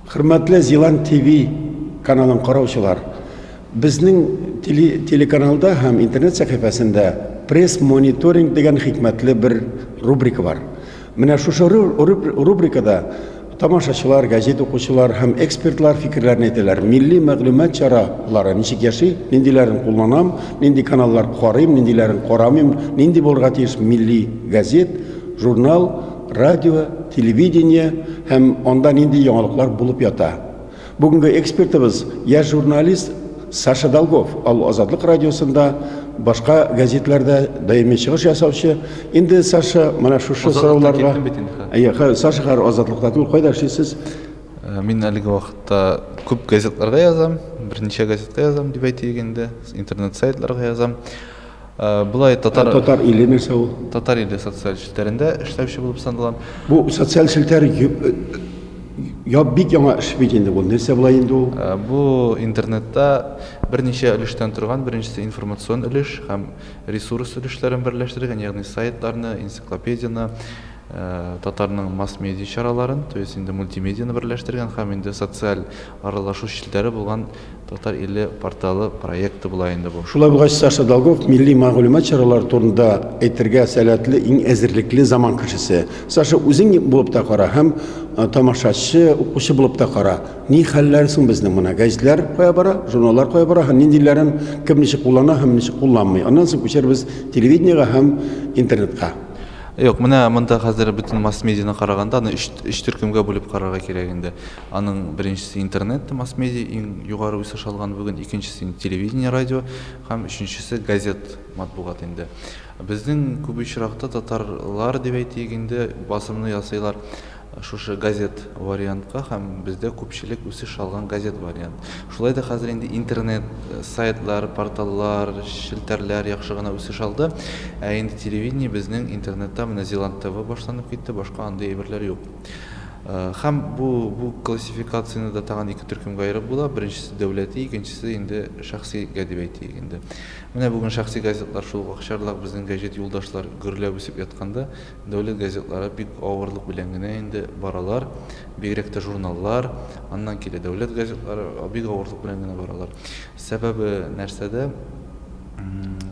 Хөрмәтле Зилан ТВ каналын караучылар, безнең телеканалда һәм интернет сәхифәсендә пресс-мониторинг дигән хикмәтле бер рубрика бар. Менә шушы рубрикада Тамашачылар, газет укучылар һәм экспертлар фикерләрен әйтәләр. Милли мәгълүмат чаралары ничек яши, ниндиләрен кулланам, нинди каналлар карыйм, ниндиләрен карамыйм, нинди булырга тиеш милли газет, журнал, радио, телевидение һәм анда нинди яңалыклар булып ята. Бүгенге экспертыбыз яшь журналист Саша Долгов, ал Азатлык радиосында, башка газетләрдә даими чыгыш ясаучы. Инде Саша менә шушы сорауларга. Әйе, Саша хәзер Азатлыкта түгел, кайда эшлисез? Э, мин әлеге вакытта күп газетларга язам, берничә газетка язам дип әйтик инде, интернет сайтларга язам. Болай татар татар иле нәрсә ул? Татар иле социаль челтәрендә эшләүче булып саналам. Бу социаль челтәр я бик яңа эш бит инде бу. Нәрсә була инде ул? Бу интернетта берничә өлештән торган, беренчесе информацион өлеш һәм ресурс өлешләрен берләштерелгән, ягъни сайтларны, энциклопедияне, татарның масс-медиа чараларын, то есть инде мультимедианы берләштерелгән һәм инде социаль аралашу челтәре булган Татар иле порталы проекты була инде бу. Шулай булгач, Саша Долгов милли мәгълүмат чаралары турында әйтергә сәләтле иң әзерлекле заман кешесе. Саша, үзең булып та кара һәм тамашачы, укучы булып та кара. Ни хәлләр соң безнең моны? Гәҗитләр кая бара, журналлар кая бара һәм ниндиләрен кем ничек куллана һәм ничек кулланмый? Аннан соң күчәрбез телевидениегә һәм интернетка. Юк, менә монда хәзер бөтен масс-медианы караганда, аны өч төркемгә бүлеп карарга кирәк инде. Аның беренчесе интернет, масс-медиа иң югары үсеш алган бүген, икенчесе инде телевидение, радио һәм өченчесе газет, матбугат инде. Безнең күп очракта татарлар дип әйтик инде басымны ясыйлар шушы газет вариантка һәм бездә күпчелек үсеш алган газет вариант. Шулай да хәзер инде интернет, сайтлар, порталлар, челтәрләр яхшы гына үсеш алды, ә инде телевидение безнең интернетта менә Зеланд ТВ башланып китте, башка андый әйберләр юк. Һәм бу бу классификацияне дә тагын ике төркемгә аерып була. Беренчесе дәүләти, икенчесе инде шәхсигә дип әйтик инде. Менә бүген шәхси газетлар шул ук акчарлак безнең гәҗит юлдашлар гөрләп үсеп ятканда, дәүләт газетлары бик авырлык белән генә инде баралар, бигрәк тә журналлар, аннан килә дәүләт газетлары, бик авырлык белән генә баралар. Сәбәбе нәрсәдә?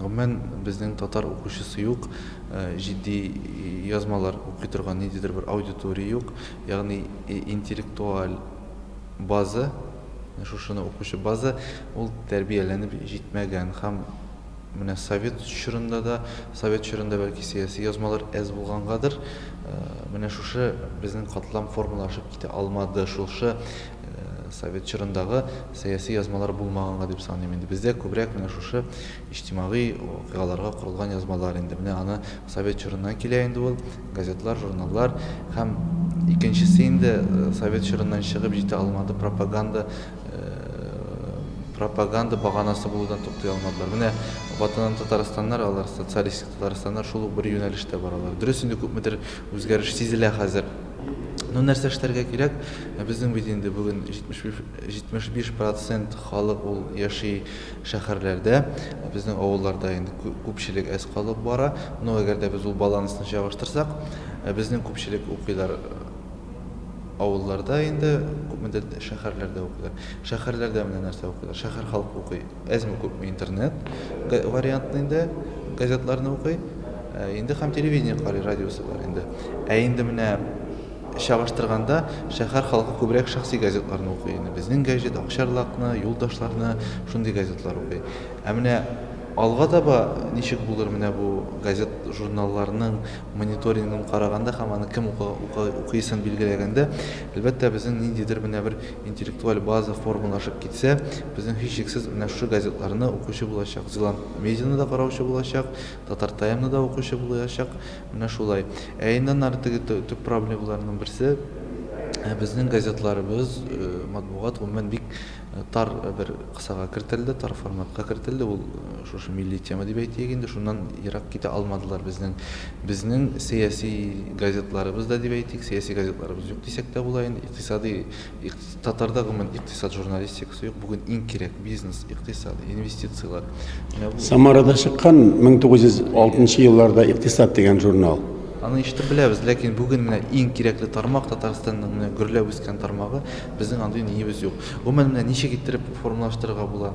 Гомумән, безнең татар укучысы юк, җитди язмалар укый торган ниндидер бер аудитория юк. Ягъни интеллектуаль база, шушыны укучы база, ул тәрбияләнеп җитмәгән һәм менә совет чорында да, совет чорында бәлки сәяси язмалар әз булгангадыр, менә шушы безнең катлам формалашып китә алмады, шушы совет чорындагы сәяси язмалар булмаганга дип саныйм инде. Бездә күбрәк менә шушы иҗтимагый вакыйгаларга корылган язмалар инде. Менә аны совет чорыннан килә инде ул, газетлар, журналлар. Һәм икенчесе инде совет чорыннан чыгып җитә алмады, пропаганда, пропаганда баганасы булудан туктый алмадылар. Менә Ватаным Татарстаннар, алар социалистик Татарстаннар шул ук бер юнәлештә баралар. Дөрес инде күпмедер үзгәреш сизелә хәзер. Ну нәрсә эшләргә кирәк? Безнең бит инде бүген 71 75 процент халык ул яши шәһәрләрдә, безнең авылларда инде күпчелек әз калып бара. Но әгәр дә без ул балансны чагыштырсак, безнең күпчелек укыйлар авылларда инде, күпмедер шәһәрләрдә укыйлар. Шәһәрләрдә менә нәрсә укыйлар, шәһәр халкы укый, әзме күпме интернет вариантны инде, газетларны укый, инде һәм телевидение карый, радиосы бар инде. Ә инде менә Чагыштырганда, шәһәр халкы күбрәк шәхси газетларны укый инде. Безнең гәҗит Акчарлакны, Юлдашларны, шундый газетлар укый. Ә менә алга таба ничек булыр менә бу газет-журналларның мониторингын караганда һәм аны кем укыйсын билгеләгәндә, әлбәттә, безнең ниндидер менә бер интеллектуаль база формалашып китсә, безнең һичшиксез менә шушы газетларны укучы булачак. Зеланд медианы да караучы булачак, Татар-таймны да укучы булачак. Менә шулай. Ә иннән ары теге төп проблемаларның берсе, безнең газетларыбыз, матбугат гомумән бик тар бер кысага кертелде, тар форматка кертелде. Ул шушы милли тема дип әйтик инде, шуннан ерак китә алмадылар безнең. Безнең сәяси газетларыбыз да дип әйтик, сәяси газетларыбыз юк дисәк тә була инде, икътисадый Татарда гомумән икътисад журналистикасы юк. Бүген иң кирәк бизнес, икътисад, инвестицияләр. Самарада чыккан 1906 елларда икътисад дигән журнал. Аны ишетеп беләбез, ләкин бүген менә иң кирәкле тармак Татарстанның менә гөрләп үскән тармагы, безнең андый ниебез юк. Гомумән менә ничек иттереп формалаштырырга була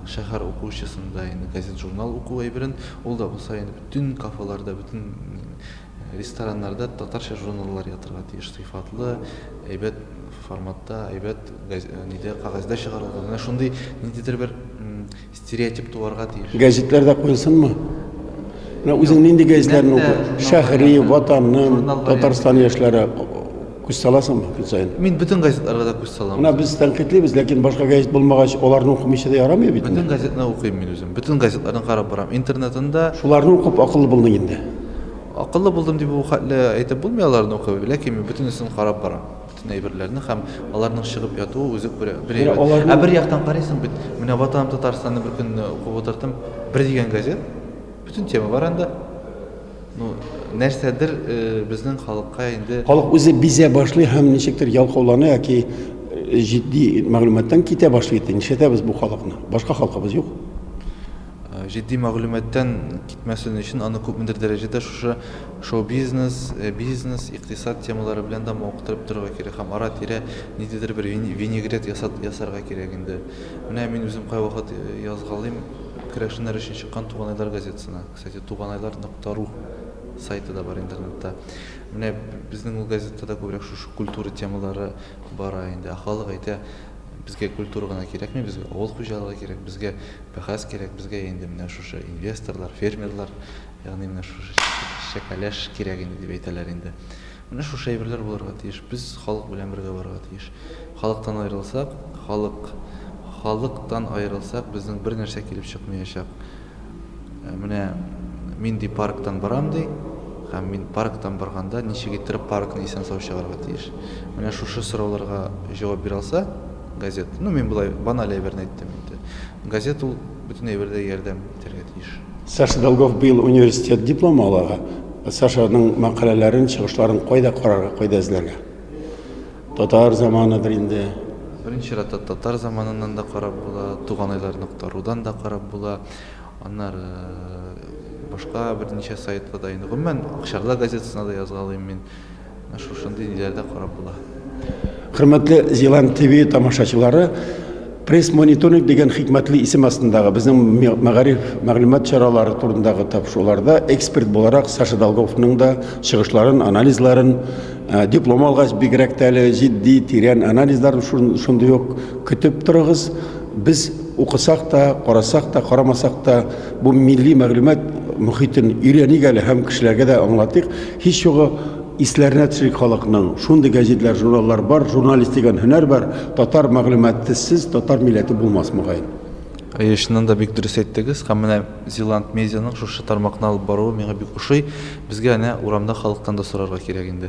шәһәр укучысында инде газет-журнал уку әйберен, ул да булса инде бөтен кафеларда, бөтен Рестораннарда татарча журналлар ятырга тиеш, сыйфатлы, әйбәт форматта, әйбәт нидә, кәгазьдә чыгарылган. Менә шундый ниндидер бер стереотип туарга тиеш. Гәзитләрдә куйсынмы? Менә үзең нинди гәзитләрне укый? Шәһри, Ватаным, Татарстан яшьләре Күз саласыңмы көн саен? Мин бөтен газетларга да күз салам. Менә без тәнкыйтьлибез, ләкин башка газет булмагач, аларны укымыйча да ярамый бит. Бөтен газетны укыйм мин үзем. Бөтен газетларны карап барам. Интернетында Шуларны укып акыллы булдың инде. Акыллы булдым дип бу хәтле әйтеп булмый аларны укып, ләкин мин бөтенесен карап барам. Бөтен әйберләрне һәм аларның чыгып ятуы үзе күрә. Бер әйбер. Аларны... Ә бер яктан карыйсың бит, менә Ватаным Татарстанны бер көнне укып утырдым. Бер дигән газет. Бөтен тема бар анда. Ну, нәрсәдер безнең халыкка инде Халык үзе бизә башлый һәм ничектер ялкаулана яки җитди мәгълүматтан китә башлый ди. Нишләтәбез бу халыкны? Башка халкыбыз юк. Җитди мәгълүматтан китмәсен өчен аны күпмедер дәрәҗәдә шушы шоу-бизнес, бизнес, икътисад темалары белән дә мавыктырып торырга кирәк һәм ара-тирә ниндидер бер винегрет ясарга кирәк инде. Менә мин үзем кайвакыт язгалыйм Керәшеннәр өчен чыккан Туган айлар газетасына. Кстати, туганайлар нокта ру сайты да бар интернетта. Менә безнең ул газетта да күбрәк шушы культура темалары бара инде. Ә халык әйтә, безгә культура гына кирәкми, безгә авыл хуҗалыгы кирәк, безгә бәхәс кирәк, безгә инде менә шушы инвесторлар, фермерлар, ягъни менә шушы чәкәләш кирәк инде, дип әйтәләр инде. Менә шушы әйберләр булырга тиеш. Без халык белән бергә барырга тиеш. Халыктан аерылсак, халык, халыктан аерылсак, безнең бер нәрсә килеп чыкмаячак. Менә мин ди парктан барам ди, һәм мин парктан барганда ничек иттереп паркны исән-сау чыгарырга тиеш? Менә шушы сорауларга җавап бирә алса, газет, ну мин болай баналь әйберне әйттем инде. Газет ул бөтен әйбердә ярдәм итәргә тиеш. Саша Долгов быел университет дипломы алага. Сашаның мәкаләләрен, чыгышларын кайда карарга, кайда эзләргә? Татар заманыдыр инде. Беренче чиратта Татар заманыннан да карап була, Туган айлар нокта рудан да карап була. Аннары башка берничә сайтта да инде. Гомумән, Акчарда газетасына да язгалыйм мин. Менә шушындый ниләрдә карап була. Хөрмәтле Зилан ТВ тамашачылары, пресс-мониторинг дигән хикмәтле исем астындагы безнең мәгариф мәгълүмат чаралары турындагы тапшыруларда эксперт буларак Саша Долговның да чыгышларын, анализларын, э, диплом алгач бигрәк тә әле җитди, тирән анализларын шундый ук көтеп торыгыз. Без укысак та, карасак та, карамасак та, бу милли мәгълүмат мөхитен өйрәник әле һәм кешеләргә дә аңлатыйк. Һич югы, исләренә төшик халыкның, шундый гәҗитләр, журналлар бар, журналист дигән һөнәр бар, татар мәгълүматысыз татар милләте булмас, мөгаен. Әйе, чыннан да бик дөрес әйттегез һәм менә Зилант Медианың шушы тармакны алып баруы миңа бик ошый. Безгә әнә урамда халыктан да сорарга кирәк инде.